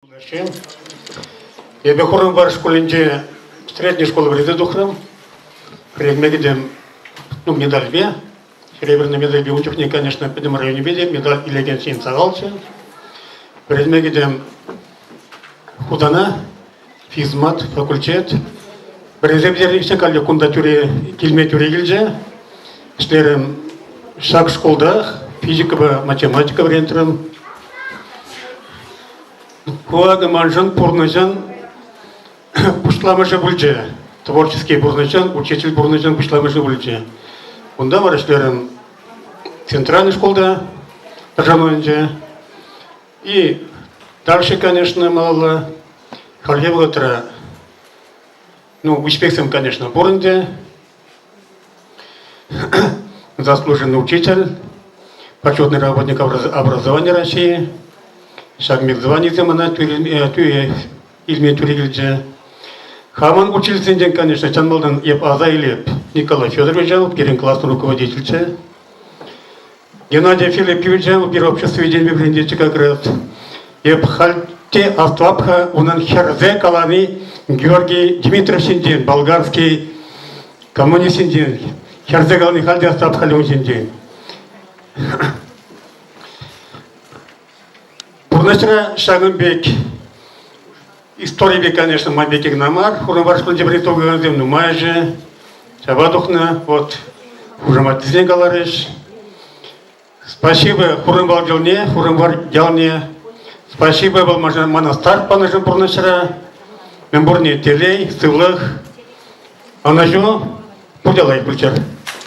Чӑваш Эпӗ Хурӑнвар шкулӗнче средней школа вӗренсе тухрӑм. Вӗренме кӗтӗм ну, медальпе. Серебряная медальпе ун чухне, конечно, пӗтӗм районӗпе те медаль илекен ҫын сахалччӗ. Вӗренме кӗтӗм Хутана физмат факультет. Вӗренсе пӗтернӗ калле кунта тӳре, килме тӳре килчӗ. Ӗҫлерӗм ҫак шкулта физикӑпа математика вӗрентрӗм. Ку акӑ маншӑн пурнӑҫӑн пуҫламӑшӗ пулчӗ. Творческий пурнӑҫӑн, учитель пурнӑҫӑн пуҫламӑшӗ пулчӗ. Унта вара ӗҫлерӗм центральнӑй шкулта пӗршануӗнче. И дальше, конечно, малалла хальхи вӑхӑтра ну, успехсем, конечно, пур ӗнтӗ. Заслуженный учитель, почетный работник образования России, ҫак мехзыванисем ӑна илме тӳре килчӗ. Хамӑн учительсенчен, конечно, чан малтан эп аса илеп. Николай Федорович пирӗн классӑн руководительччӗ. Геннадий Филипповичӑн пир обществи вӗрентӳ декрет. Эп халь те астлап-ха унӑн хӗрсе калани Георгий Дмитриевичсенчен, болгарский коммунистсенчен. Хӗрсе калани халь те астлап халь ун ҫинчен. Пурнӑҫра ҫакӑн пек историпе, конечно, ман пекех кӑна мар. Хурӑнвар шкулӗнче вӗренсе тухакансем нумайӑшӗ ҫапа тухнӑ. Вот хушаматсене каларӗҫ. Спасибо Хурӑнвал ялне, Хурӑнвар ялне. Спасибо был мана старт панӑшӑн пурнӑҫра. Мӗн пурне телей, сывлӑх. Ӑнӑҫу, пурте лайӑх пулчӑр.